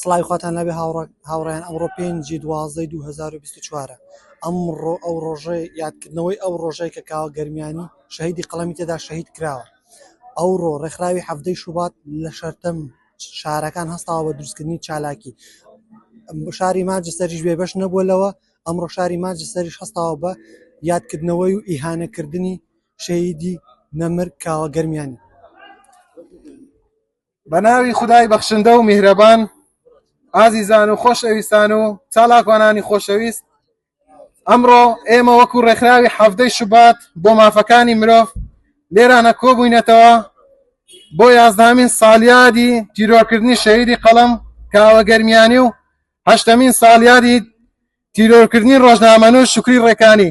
سڵاوی خواتان لەبێ هاوڕێیان ئەمڕۆ پێنجی دوازدەی دوو هەزار و بیست و چوارە ئەمڕۆ ئەو ڕۆژەی یادکردنەوەی ئەو ڕۆژەی کە کاوە گەرمیانی شەهیدی قەڵەمی تێدا شەهید کراوە ئەوڕۆ ڕێکخراوی حەفتەی شوبات لە شەرتەم شارەکان هەستاوە بە دروستکردنی چالاکی شاری ماجستەریش بێ بەش نەبووە لەوە ئەمڕۆ شاری ماجستەریش هەستاوە بە یادکردنەوەی و ئیهانەکردنی شەیدی نەمر کاوە گەرمیانی بە ناوی خدای بەخشندە و میهرەبان ئازیزان و خۆشەویستان و چالاکوانانی خۆشەویست ئەمڕۆ ئێمە وەکو ڕێکخراوی حەفتەی شوبات بۆ مافەکانی مرۆڤ لێرانە کۆبووینەتەوە بۆ یازدامین ساڵیادی تیرۆرکردنی شەهیدی قەڵەم کاوە گەرمیانی و هەشتمین ساڵیادی تیرۆرکردنی ڕۆژنامەنووس شوکری ڕێکانی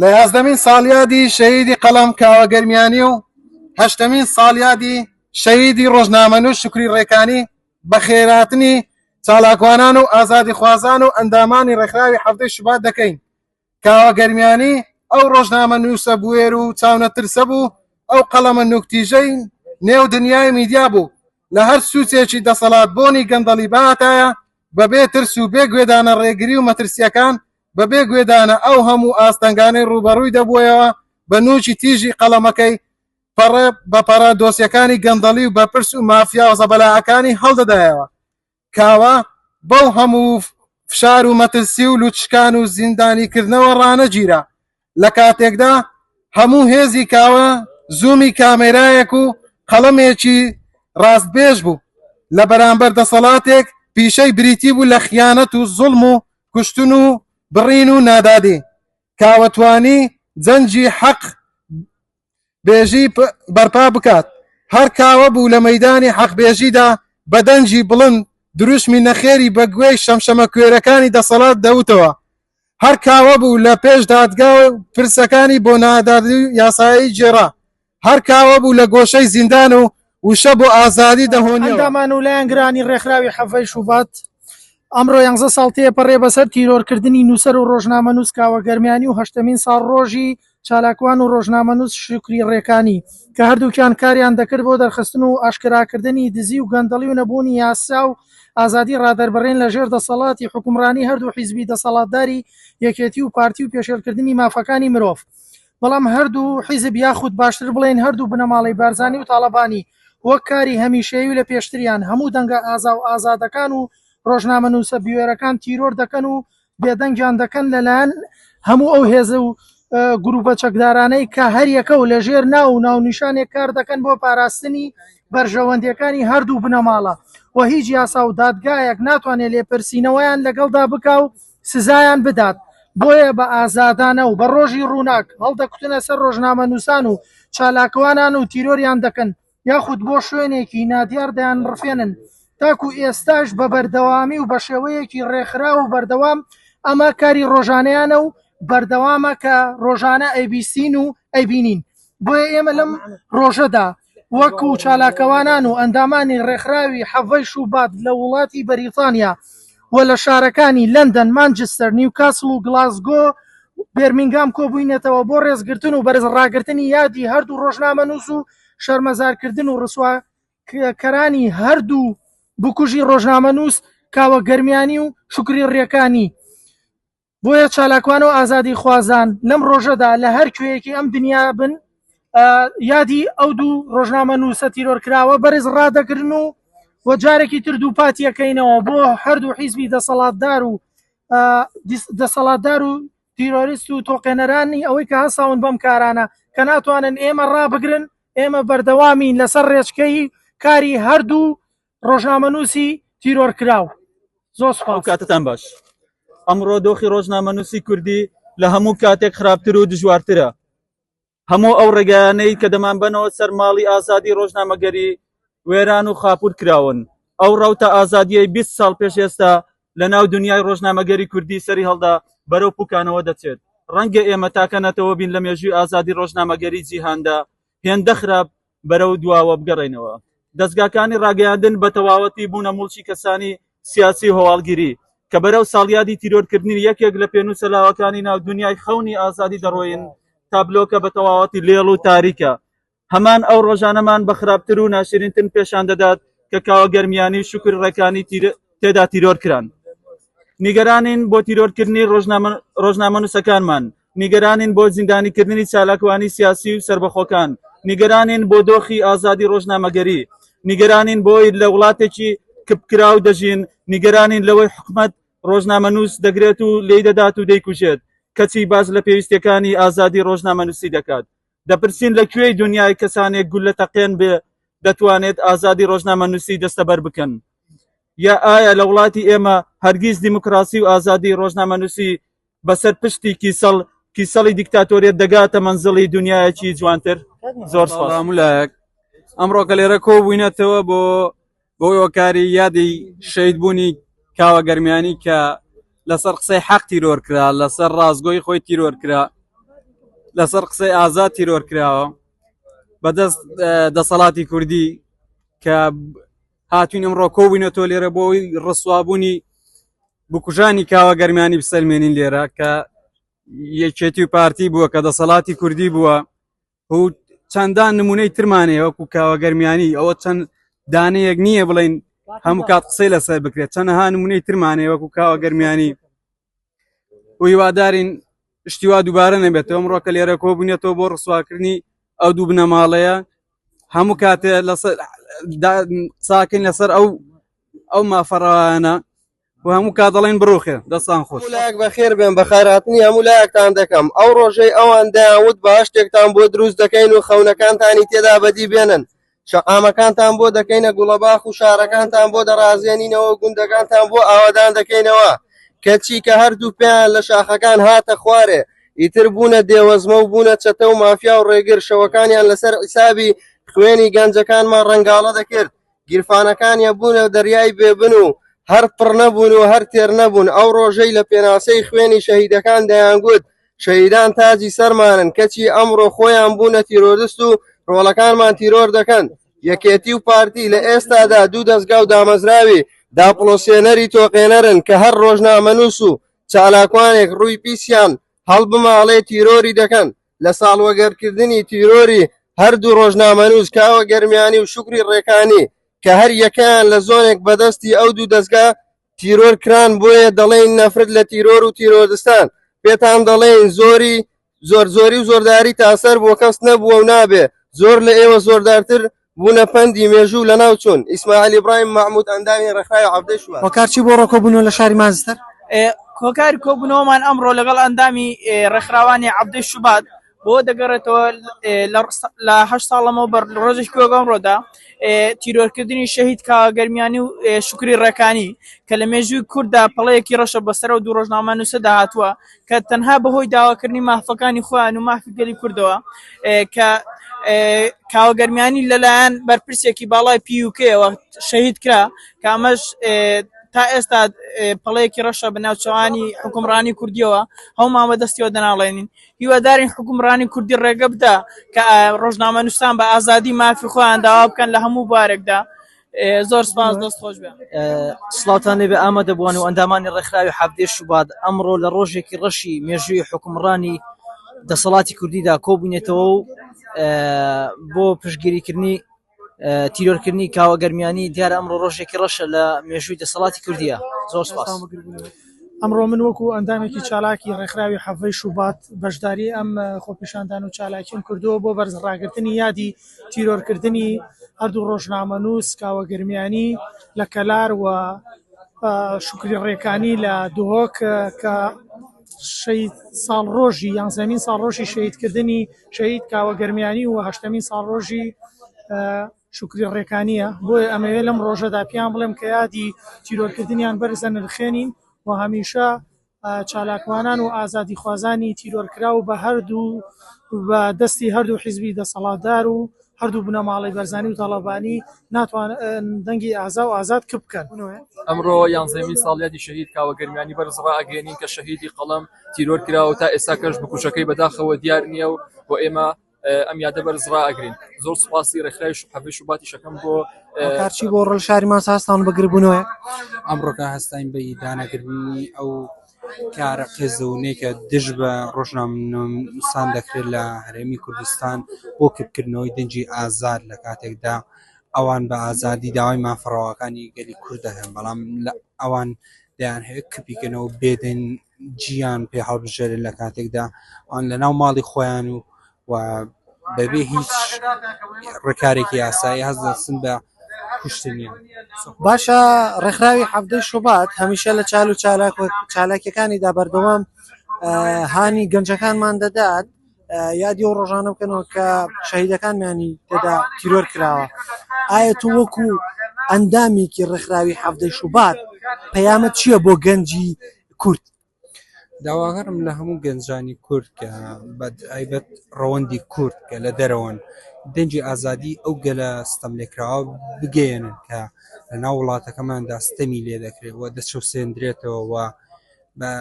لە یازدەمین ساڵیادی شەهیدی قەڵەم کاوە گەرمیانی و هەشتەمین ساڵیادی شەهیدی ڕۆژنامەنووس شکری ڕێکانی بە خێراتنی چالاکوانان و ئازادی خوازان و ئەندامانی ڕێکخراوی حەڤدەی شوبات دەکەین کاوە گەرمیانی ئەو ڕۆژنامە نووسە بوێر و چاونە ترسە بوو ئەو قەڵەمە نوکتیژەی نێو دنیای میدیا بوو لە هەر سوچێکی دەسەڵات بۆنی گەندەڵی باتایە بەبێ ترس و بێ گوێدانە ڕێگری و مەترسیەکان بەبێ گوێدانە ئەو هەموو ئاستەنگانەی ڕووبەڕووی دەبووەوە بە نووکی تیژی قەڵەمەکەی پەڕە بە پەڕە دۆسیەکانی گەندەڵی و بەرپرس و مافیا و زەبەلاحەکانی هەڵدەدایەوە کاوە بەو هەموو فشار و مەترسی و لووتشکان و زیندانیکردنەوە ڕانەگیرا لە کاتێکدا هەموو هێزی کاوە زوومی کامێرایەک و قەڵەمێکی ڕاستبێژ بوو لە بەرامبەر دەسەڵاتێک پیشەی بریتی بوو لە خیانەت و زوڵم و کوشتن و بڕین و نادادی کاوەتوانی جەنجی حەق بێژی بەرپا بکات، هەر کاوە بوو لە مەیدانی حەقبێژیدا بە دەنگی بڵند دروشمی نەخێری بە گوێی شەمشەمە کوێرەکانی دەسەڵات دەوتەوە، هەر کاوە بوو لە پێش دادگا و پرسەکانی بۆ نادادی و یاسایی گێڕا، هەر کاوە بوو لە گۆشەی زیندان و وشە بۆ ئازادی دەهۆنیەوە. ئەندامان و لایەنگرانی ڕێکخراوی حەڤەی شوبات ئەمڕۆ یانزە ساڵ تێپەڕێ بەسەر تیرۆرکردنی نووسەر و ڕۆژنامەنووس کاوە گەرمیانی و هەشتەمین ساڵڕۆژی چالاکوان و ڕۆژنامەنووس شوکری ڕێکانی کە هەردووکیان کاریان دەکرد بۆ دەرخستن و ئاشکراکردنی دزی و گەندەڵی و نەبوونی یاسا و ئازادی ڕادەربڕین لە ژێر دەسەڵاتی حکومڕانی هەردوو حیزبی دەسەڵاتداری یەکێتی و پارتی و پێشێلکردنی مافەکانی مرۆڤ بەڵام هەردوو حیزب یاخود باشتر بڵێن هەردوو بنەماڵەی بارزانانی و تاالبانی وەک کاری هەمیشەیە و لە پێشتریان هەموو دەنگە ئازا و ئازادەکان و ڕۆژنامە نووسە بوێرەکان تیرۆر دەکەن و بێدەنگیان دەکەن لەلایەن هەموو ئەو هێزە و گروپە چەکدارانەی کە هەریەکە و لەژێر ناو و ناونیشانێک کار دەکەن بۆ پاراستنی بەرژەوەندەکانی هەردوو بنەماڵە و هیچ یاسا و دادگایەک ناتوانێت لێپرسینەوەیان لەگەڵدا بکە و سزایان بدات، بۆیە بە ئازادانە و بە ڕۆژی ڕووناک هەڵدەکوتنە سەر ڕۆژنامەنووسان و چالاکوانان و تیرۆریان دەکەن یاخود بۆ شوێنێکی نادیار دەیانڕفێنن، تاکو ئێستاش بە بەردەوامی و بە شێوەیەکی ڕێکخراو و بەردەوام ئەمە کاری ڕۆژانەیانە و بەردەوامە کە ڕۆژانە ئەیبیستین و ئەیبینین. بۆیە ئێمە لەم ڕۆژەدا وەکو چالاکەوانان و ئەندامانی ڕێکخراوی حەڤەی شوبات لە وڵاتی بەریتانیا و لە شارەکانی لەندەن مانجستەر نیوکاسل و گلاسگۆ بێرمینگام کۆبووینەتەوە بۆ ڕێزگرتن و بەرز ڕاگرتنی یادی هەردوو ڕۆژنامە نووس و شەرمەزارکردن و ڕسووا کەرانی هەردوو بکوژی ڕۆژنامە نووس کاوە گەرمیانی و شکری ڕێکانی بۆیە چالاکوان و ئازادی خوازان لەم ڕۆژەدا لە هەر کوێیەکی ئەم دنیا بن یادی ئەو دوو ڕۆژنامە نووسە تیرۆرکراوە بەرز ڕدەگرن و و جارێکی تر دووپاتیەکەینەوە بۆ هەردوو حیزبی دەسەڵاتدار و دەسەڵاتدار و تیرۆریست و تۆقێنەرانی ئەوەی کە هەساون بەم کارانە کە ناتوانن ئێمە ڕابگرن ئێمە بەردەوامین لەسەر ڕێچکەی کاری هەردوو ڕۆژنامەنووسی تیرۆرکراو زۆر سپاس کاتتان باش ئەمڕۆ دۆخی ڕۆژنامەنووسی کوردی لە هەموو کاتێک خراپتر و دژوارترە هەموو ئەو ڕێگایانەی کە دەمان بنەوە سەر ماڵی ئازادی ڕۆژنامەگەری وێران و خاپور کراون ئەو ڕەوتە ئازادیەی 20 ساڵ پێش ئێستا لە ناو دنیای ڕۆژنامەگەری کوردی سەری هەڵدا بەرەو پوکانەوە دەچێت ڕەنگە ئێمە تاکە نەتەوە بین لە مێژووی ئازادی ڕۆژنامەگەری جیهاندا هێندە خراپ بەرەو دواوە بگەڕێنەوە دەستگاکانی ڕاگەیاندن بە تەواوەتی بوونە موڵکی کەسانی سیاسی هەواڵگیری کە بەرەو ساڵیادی تیرۆرکردنی یەکێک لە پێنوو سەلاوەکانی ناو دنیای خەونی ئازادی دەڕۆین تابلۆکە بە تەواوەتی لێڵ و تاریکە هەمان ئەو ڕۆژانەمان بە خراپتر و ناشرینتن پێشان دەدات کە کاوە گەرمیانی و شکر ڕێکانی تێدا تیرۆر کران نیگەرانین بۆ تیرۆرکردنی ڕۆژنامە نووسەکانمان نیگەرانین بۆ زیندانیکردنی چالاکوانی سیاسی و سەربەخۆکان، نیگەرانین بۆ دۆخی ئازادی ڕۆژنامەگەری، نیگەرانین بۆی لە وڵاتێکی کپکراو دەژین، نیگەرانین لەوەی حکومەت ڕۆژنامەنووس دەگرێت و لێی دەدات و دەیکوژێت، کەچی باس لە پێویستیەکانی ئازادی ڕۆژنامەنووسی دەکات. دەپرسین لە کوێی دونیای کەسانێک گوللە تەقێن بێ دەتوانێت ئازادی ڕۆژنامەنووسی دەستەبەر بکەن؟ یا ئایا لە وڵاتی ئێمە هەرگیز دیموکراسی و ئازادی ڕۆژنامەنووسی بەسەر پشتی کیسەڵ کیسەڵی دیکتاتۆریت دەگاتە منزڵی دنیایەکی جوانتر زۆر سڵامولایەک ئەمڕۆکە لێرە کۆ بووینەتەوە بۆ بۆ هۆکاری یادی شەید بوونی کاوە گەرمیانی کە لەسەر قسەی حەق تیرۆر کرا لەسەر ڕاستگۆی خۆی تیرۆر کرا لەسەر قسەی ئازاد تیرۆر کراوە بەدەست دەسەڵاتی کوردی کە هاتوین ئەمڕۆ کۆبووینە تۆ لێرە بۆی ڕسوابوونی بکوژانی کاوە گەرمیانی بسەلمێنین لێرە کە یەکێتی و پارتی بووە کە دەسەڵاتی کوردی بووە و چەندان نمونەی ترمانەیە وەکو کاوە گەرمیانی ئەوە چەند دانەیەک نییە بڵین هەموو کات قسەی لەسەر بکرێت چەندها نمونەی ترمانەیە وەکو کاوە گەرمیانی و هیوادارین شتیوا دووبارە نەبێتەوە ڕۆکە لێرە کۆ بوونێتەوە بۆ ڕسواکردنی ئەو دوو بنەماڵەیە هەموو کاتێ لەسەر ساکن لەسەر ئەو ئەو مافەڕەوانە و هەموو کا دەڵێن بڕوخێ دەستان خۆش لاک بە خێر بێن بە خاراتنی هەموو لایەکتان دەکەم ئەو ڕۆژەی ئەوان دەیانوت بە هەشتێکتان بۆ دروست دەکەین و خەونەکانتانی تێدا بەدی بێنن شەقامەکانتان بۆ دەکەینە گوڵەباخ و شارەکانتان بۆ دەڕازێنینەوە گوندەکانتان بۆ ئاوادان دەکەینەوە کەچی کە هەردوو پێیان لە شاخەکان هاتە خوارێ ئیتر بوونە دێوەزمە و بوونە چەتە و مافیا و ڕێگر شەوەکانیان لەسەر عیسابی خوێنی گەنجەکانمان ڕەنگاڵە دەکرد گیرفانەکانیان بوونە دەریای بێبن و هەر پڕ نەبوون و هەر تێر نەبوون ئەو ڕۆژەی لە پێناسەی خوێنی شەهیدەکان دەیانگوت شەهیدان تاجی سەرمانن کەچی ئەمڕۆ خۆیان بوونە تیرۆرست و ڕۆڵەکانمان تیرۆر دەکەن یەکێتی و پارتی لە ئێستادا دوو دەستگا و دامەزراوی داپڵۆسێنەری تۆقێنەرن کە هەر ڕۆژنامەنووس و چالاکوانێک ڕووی پیسیان هەڵبماڵێ تیرۆری دەکەن لە ساڵوەگەرکردنی تیرۆری هەردوو ڕۆژنامەنووس کاوە گەرمیانی و شوکری ڕێکانی کە هەر یەکەیان لە زۆنێک بەدەستی ئەو دوو دەزگا تیرۆر کران بۆیە دەڵێین نەفرەت لە تیرۆر و تیرۆرستان پێتان دەڵێین زۆری زۆر زۆری و زۆرداری تاسەر بۆ کەس نەبووە و نابێ زۆر لە ئێوە زۆردارتر بوونە پەندی مێژوو لەناو چوون ئیسماعیل ئیبراهیم مەحمود ئەندامی ڕێکخراوی حەڤدەی شوبات. هۆکار چی بوو ڕۆکۆبوونەوە لە شاری مانچستەر؟ هۆکاری کۆبوونەوەمان ئەمڕۆ لەگەڵ ئەندامی ڕێکخراوانی عەڤدەی شوبات بەوە دەگەڕێتەوە لە هەشت ساڵ لەمەوبەر لە ڕۆژێکی وەک ئەمڕۆدا تیرۆرکردنی شەهید کاوە گەرمیانی و شوکری ڕێکانی کە لە مێژووی کورددا پەڵەیەکی ڕەشە بەسەر و دوو ڕۆژنامەنووسەدا هاتووە کە تەنها بە هۆی داواکردنی مافەکانی خۆیان و مافی گەلی کوردەوە کە کاوە گەرمیانی لەلایەن بەرپرسێکی باڵای پیوکەوە شەهید کرا کە ئەمەش تا ئێستا پڵەیەکی ڕەشە بەناوچەوانی حکومڕانی کوردیەوە هەومان بە دەستیەوە دەناڵێنین هیوادارین حکومڕانی کوردی ڕێگە بدە کە ڕۆژنامە نووسان بە ئازادی مافی خۆیان داوا بکەن لە هەموو بارێکدا زۆر سپاس دەست خۆش بێ سلاوتان لێبێ ئامادەبووان و ئەندامانی ڕێکخراوی حەفتێ شوبات ئەمڕۆ لە ڕۆژێکی ڕەشی مێژووی حکومڕانی دەسەڵاتی کوردیدا کۆبوونێتەوە و بۆ پشگیریکردنی تیرۆرکردنی کاوە گەرمیانی دیار ئەمڕۆ ڕۆژێکی ڕەشە لە مێژووی دەسەڵاتی کوردیە زۆر سپاس ئەمڕۆ من وەکو ئەندامێکی چالاکی ڕێکخراوی حەڤەی شوبات بەشداری ئەم خۆپیشاندان و چالاکیم کردووە بۆ بەرز ڕاگرتنی یادی تیرۆرکردنی هەردوو ڕۆژنامەنووس کاوە گەرمیانی لە کەلار و شوکری ڕێکانی لە دهۆک کە شەید ساڵڕۆژی یانزەمین ساڵڕۆژی شەیدکردنی شەید کاوە گەرمیانی و هەشتەمین ساڵڕۆژی شکری ڕێکانیە بۆیە ئەمەوێت لەم ڕۆژەدا پیان بڵێم کە یادی تیرۆرکردنیان بەرزە نرخێنین و هەمیشە چالاکوانان و ئازادیخوازانی تیرۆرکراو بە هەردوو بە دەستی هەردوو حیزبی دەسەڵاتدار و هەردوو بنەماڵەی بەرزانی و تاڵەبانی ناتوانن دەنگی ئازا و ئازاد کپ بکەن. ئەمڕۆ یانزەیەمین ساڵیادی شەهید کاوە گەرمیانی بەرز ڕائەگەیەنین کە شەهیدی قەڵەم تیرۆرکراوە و تا ئێستا کەش بکوژەکەی بەداخەوە دیار نییە و ئێمە ئەم یادە بەرز ڕاگرین زۆر سپاسی ڕێکخراوی شحەبی شوباتی شەکەم بۆ کارچی بۆ ڕل شاری ماساستان بەگربوونەوە ئەمڕۆکە هەستین بە دانەگرنی ئەو کارە قێزەونەی کە دژ بە ڕۆژنامەنووسان دەکرێت لە هەرێمی کوردستان بۆ کپکردنەوەی دەنجی ئازاد لە کاتێکدا ئەوان بە ئازادی داوای مافڕەوەکانی گەلی کورد دەکەن بەڵام لە ئەوان دەیان هەیە کپیکەنەوە بێدەن جیان پێ هەڵبژێرن لە کاتێکدا ئەوان لە ناو ماڵی خۆیان و و بەبێ هیچ ڕێکارێکی یاسایی هەست دەستن بە کوشتنیان باشە ڕێکخراوی حەفتەی شوبات هەمیشە لە چال و چالاکەکانیدا بەردەوام هانی گەنجەکانمان دەدات یادی ئەو ڕۆژانە بکەنەوە کە شەهیدەکانمانی تێدا تیرۆر کراوە ئایا تو وەکو ئەندامێکی ڕێکخراوی حەڤدەی شوبات پەیامت چییە بۆ گەنجی کورد؟ داواکارم لە هەموو گەنجانی کورد کە بە تایبەت ڕەوەندی کورد کە لە دەرەوەن دەنگی ئازادی ئەو گەلە ستەملێکراوە بگەیەنن کە لە ناو وڵاتەکەماندا ستەمی لێ دەکرێت و دەچەوسێندرێتەوە و بە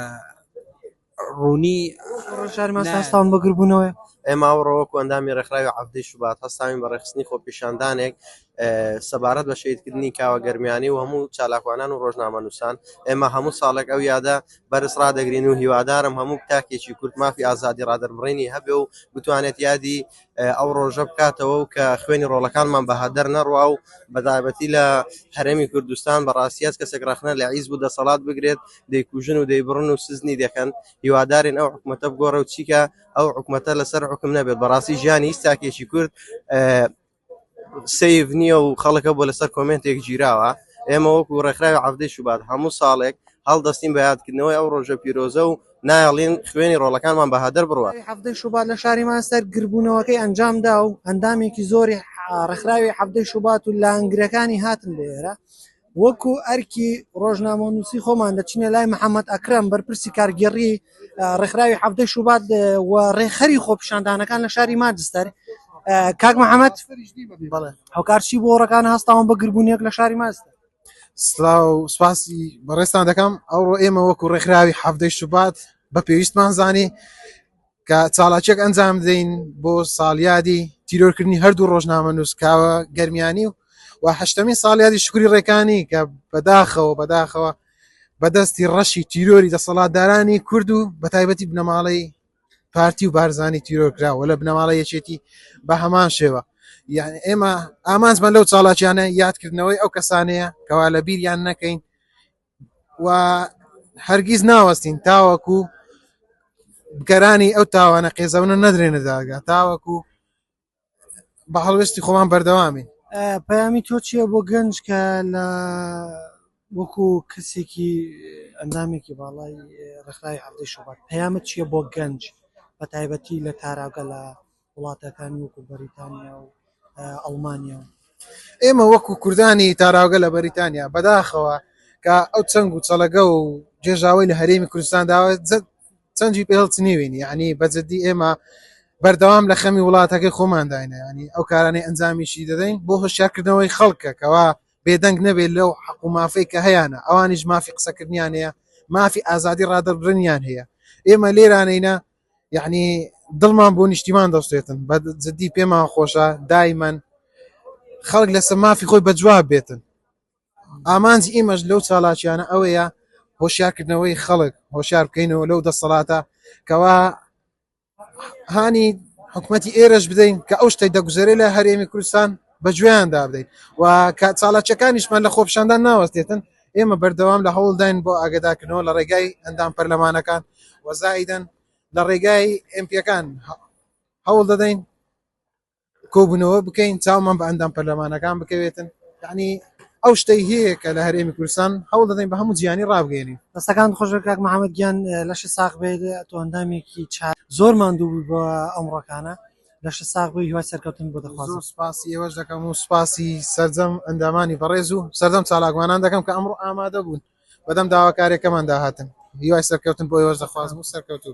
ڕوونی ڕژاری ماست هەستاون بە گربوونەوەی. ئێمە ئەوڕۆ وەکو ئەندامی ڕێکخراوی عەڤدەی شوبات هەستاوین بە ڕێکخستنی خۆپیشاندانێک سەبارەت بە شەهیدکردنی کاوە گەرمیانی و هەموو چالاکوانان و ڕۆژنامەنووسان ئێمە هەموو ساڵێک ئەو یادە بەرز ڕادەگرین و هیوادارم هەموو تاکێکی کورد مافی ئازادی ڕادەربڕینی هەبێ و بتوانێت یادی ئەو ڕۆژە بکاتەوە و کە خوێنی ڕۆڵەکانمان بەها دەرنەڕوا و بەتابەتی لە هەرێمی کوردستان بەڕاستیاس کەسێک ڕخنە لە عیز بوو دەسەڵات بگرێت دەیکوژن و دەیبڕن و سزنی دەکەن هیوادارین ئەو حکوومەتە بگۆڕە و چیکە ئەو حکوومەتە لەسەر حکم نەبێت بەڕاستی ژیانی هیچ تاکێکی کورد سیڤ نییە و خەڵەکە بۆ لەسەر کۆمنتێک گیراوە ئێمە وەکو ڕێکخراوی عەفدەی شوبات هەموو ساڵێک هەڵدەستین بە یادکردنەوەی ئەو ڕۆژە پیرۆزە و نایەڵین خوێنی ڕۆڵەکانمان بەهەدەر بڕوا. ی حەڤدەی شوبات لە شاری مان سەر گربوونەوەکەی ئەنجامدا و ئەندامێکی زۆری ڕێکخراوی حەڤدەی شوبات و لایەنگرەکانی هاتن بۆ ئێرە وەکو ئەرکی ڕۆژنامەنووسی خۆمان دەچینە لای محەممەد ئەکرەم بەرپرسی کارگێڕی ڕێکخراوی حەڤدەی شوبات و ڕێکخەری خۆپیشاندانەکان لە شاری مانچستەر کاک محەممەد هاوکارچی بۆ ڕەکان هەستاون بە گربوونێک لە شاری ماستەر سلااو سپاسی بەڕێزتان دەکەم ئەوڕۆ ئێمە وەکو ڕێکخراوی حەفتەی شوبات بە پێویستمان زانی کە چالاکیەک ئەنجام دەین بۆ ساڵیادی تیرۆرکردنی هەردوو ڕۆژنامە نووسکاوە گەرمیانی و و هەشتمین ساڵیادی شکری ڕێکانی کە بەداخەوە بەداخەوە بەدەستی ڕەشی تیرۆری دەسەڵاتدارانی کورد و بە تایبەتی بنەماڵەی پارتی و بارزانانی تیرۆرکرا و لە بنەماڵە یەکێتی بە هەمان شێوە یعنی ئێمە ئامانجمان لەو چاڵاکیانە یادکردنەوەی ئەو کەسانەیە کەوا لە بیریان نەکەین و هەرگیز ناوەستین تاوەکو گەرانی ئەو تاوانە قێزەونە نەدرێنە داگا تاوەکو بە هەڵوێستی خۆمان بەردەوامین پەیامی تۆ چییە بۆ گەنج کە لە وەکو کەسێکی ئەندامێکی باڵای ڕخای هەڵدەی شوبات پەیامە چییە بۆ گەنج بە تایبەتی لە تاراگە لە وڵاتەکانی وەکو بەریتانیا و ئەڵمانیا ئێمە وەکو کوردانی تاراوگە لە بەریتانیا بەداخەوە کە ئەو چەنگ و چەڵەگە و جێژاوی لە هەرێمی کوردستان داوە چەند جی پێڵ نیوین یعنی بەجددی ئێمە بەردەوام لە خەمی وڵاتەکەی خۆمانداینە ینی ئەو کارانەی ئەنجامیشی دەدەین بۆ هۆشارکردنەوەی خەڵکە کەوا بێدەنگ نەبێت لەو حق و مافەی کە هەیەە ئەوانیش مافی قسەکردنیان هەیە مافی ئازادی ڕادەربرنیان هەیە ئێمە لێرانەینە یعنی دڵمان بۆ نیشتیمان دەستێتن بە جددی پێمان خۆشە دایمەن خەڵک لەسە مافی خۆی بەجواب بێتن ئامانجی ئیمەش لەو چالاکیانە ئەوەیە هۆشارکردنەوەی خەڵک هۆشار بکەینەوە لەو دەسەڵاتە کەوا هانی حکوومەتتی ئێرەش بدەین کە ئەو شتەی دەگوزارێ لە هەرێمی کوردستان بە گوێیان دابدەین و کە چالاکیەکانیشمان لە خۆپشاندان ناوەستێتن ئێمە بەردەوام لە هەوڵداین بۆ ئاگداکردنەوە لە ڕێگای ئەندام پەرلەمانەکان وەزایدن لە ڕێگای ئەمپیەکان هەوڵ دەدەین کۆبوونەوە بکەین چاومان بە ئەندام پەرلەمانەکان بکەوێتن یعنی ئەو شتەی هەیە کە لە هەرێمی کوردستان هەوڵ دەدەین بە هەموو جیانی ڕابگەێنین دەستەکان خۆش کاک محەممەد گیان لەش ساق بێت تۆ ئەندامێکی چا زۆر ماندوو بوو بە ئەمڕۆکانە لەش ساق بوو هیوای سەرکەوتن بۆ دەخوازم سپاسی ئێوەش دەکەم و سپاسی سرجەم ئەندامانی بەڕێز و سەردەم چالاکوانان دەکەم کە ئەمڕۆ ئامادە بوون بەدەم داواکارێکەمان داهاتن هیوای سەرکەوتن بۆ ئێوەش دەخوازم و سەرکەوتوو